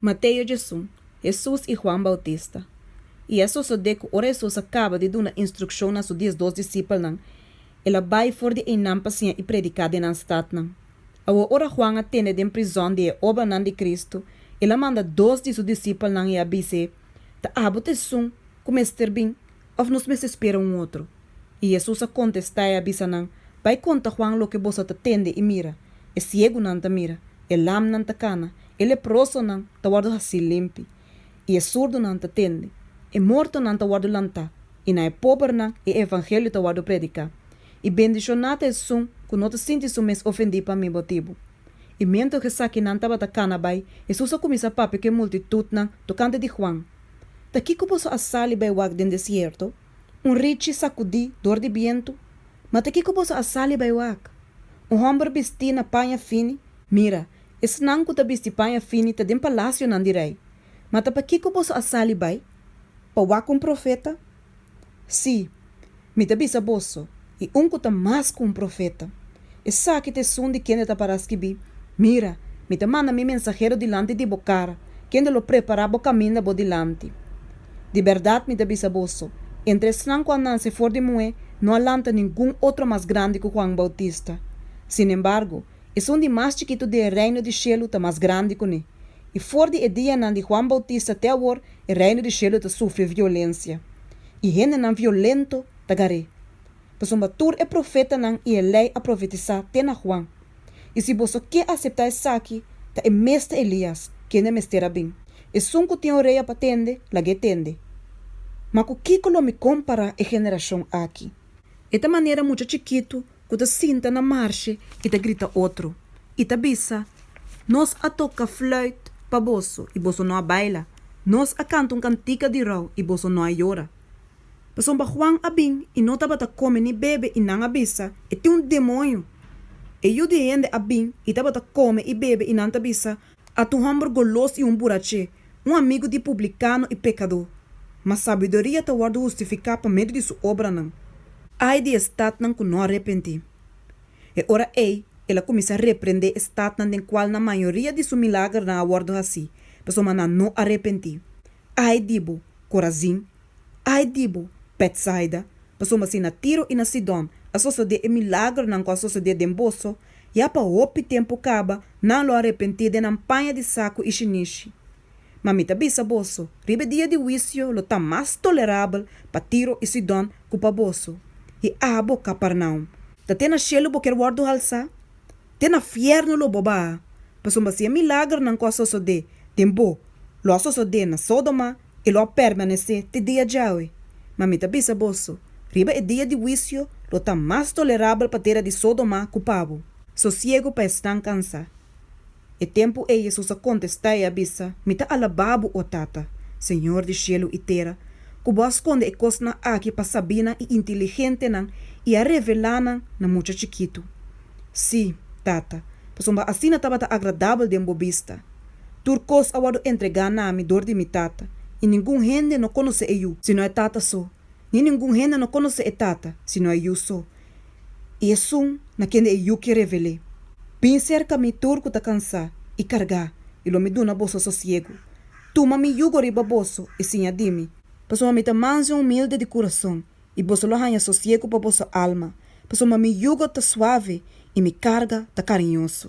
Mateo Jesun, Hesus i Huan Bautista. I a sosodé ku ora Hesus a kaba di duna instrukshon na su diesdos disipelnan, el a bai for di einan pa siña i prediká den nan statnan. Awo ora Huan a tende den prizòn di e obranan di Kristu, el a manda dos di su disipelnan i a bis'é, Ta abo t'esun ku mester bin, òf nos mester spera un otro? I Hesus a kontestá i a bisa nan, Bai konta Huan loke bo sa ta tende i mira, E siegunan ta mira, e lamnan ta kana, e leprosonan ta wòrdu hasí limpi, i e surdunan ta tende, e mortonan ta wòrdu lantá, i na e pobernan e evangelio ta wòrdu prediká. I bendishoná ta esun ku no ta sinti su mes ofendí pa mi botibu. I mientras esakinan tabata kana bai, Hesus a kuminsá papia ku e multitutnan tokante di Huan, Ta kiko boso a sali bai wak den desierto? Un richi sakudí dor di bientu? Ma ta kiko boso a sali bai wak? Un hòmber bistí na paña fini? Mira, esnan ku ta bisti paña fini ta den palasionan di rei. Ma ta pa kiko boso a sali bai? Pa wak un profeta? Sí, mi ta bisa boso, i un ku ta mas ku un profeta. Esaki ta esun di kende ta pará skibí, Mira, mi ta manda mi mensahero dilanti di bo kara, kende lo prepará bo kaminda bo dilanti. Di bèrdat mi ta bisa boso, entre esnan ku a nanse for di muhé no a lanta ningun otro mas grandi ku Huan Boutista. Sinembargo, Esun di mas chikitu den e Reino di shelu ta mas grandi kuné. I for di e dianan di Juan Boutista te awor e Reino di shelu ta sufri violensia. I hendenan violento ta gar'é. Pasobra tur e profetanan i e Lei a profetisá te na Juan. I si boso ke aseptá esaki, ta e mester Elias, kende a mester a bin. Esun ku tin orea pa tende, lag'é tende. Ma ku kiko lo mi kompará e generashon aki? E ta manera mucha chikitu ku ta sinta na marshe i ta grita otro, i ta bisa, Nos a toka flùit pa boso i boso no a baila, nos a kanta un kantika di rou i boso no a yora. Pasobra Juan a bin i no tabata kome ni bebe i nan a bisa, E tin un demoño! E yu di hende a bin i tabata kome i bebe i nan ta bisa, At un hòmber golos i un buraché, un amigu di publikano i pekadó. Ma sabiduria ta wòrdu hustifiká pa medio di su obranan. Ai di e statnan ku no a repentí! E ora ei, el a kuminsá reprendé e statnan den kual nan mayoria di su milagernan a wòrdu hasí, pasobra nan no a repentí. Ai di bo, Korazin! Ai di bo, Bètsaida! Pasobra si na Tiro i na Sidòn a sosodé e milagronan ku a sosodé den boso, ya pa hopi tempu kaba nan lo a repentí den nan paña di saku i shinishi. Ma mi ta bisa boso, riba e dia di huisio lo ta mas tolerabel pa Tiro i Sidòn ku pa boso. I abo, Kapernaum! Ta te na shelu bo kier wòrdu halsá? Te na fièrnu lo bo baha! Pasobra si e milagronan ku a sosodé den bo lo a sosodé na Sódoma, e lo a permanesé te dia djawe. Ma mi ta bisa boso, riba e dia di huisio lo ta mas tolerabel pa tera di Sodomá ku pabu. Sosiegu pa esnan kansá. E tempu ei Hesus a kontestá i a bisa, Mi ta alabá bo, o Tata, Señor di shelu i tera, ku bo a skonde e kosnan aki pa sabinan i intiligentenan i a revelá nan na mucha chikitu. Sí, Tata, pasobra asina tabata agradabel den bo bista. Tur kos a wòrdu entregá na mi dor di mi Tata, i ningun hende no konosé e Yu, sino e Tata so, ni ningun hende no konosé e Tata, sino e Yu so, i esun na kende e Yu ke revel'é. Bin serka mi tur ku ta kansá i kargá, i lo mi duna boso sosiegu. Tuma mi yugo riba boso i siña di mi, pasobra mi ta mansu i humilde di kurason, i boso lo haña sosiegu pa boso alma, pasobra mi yugo ta suave i mi karga ta kariñoso.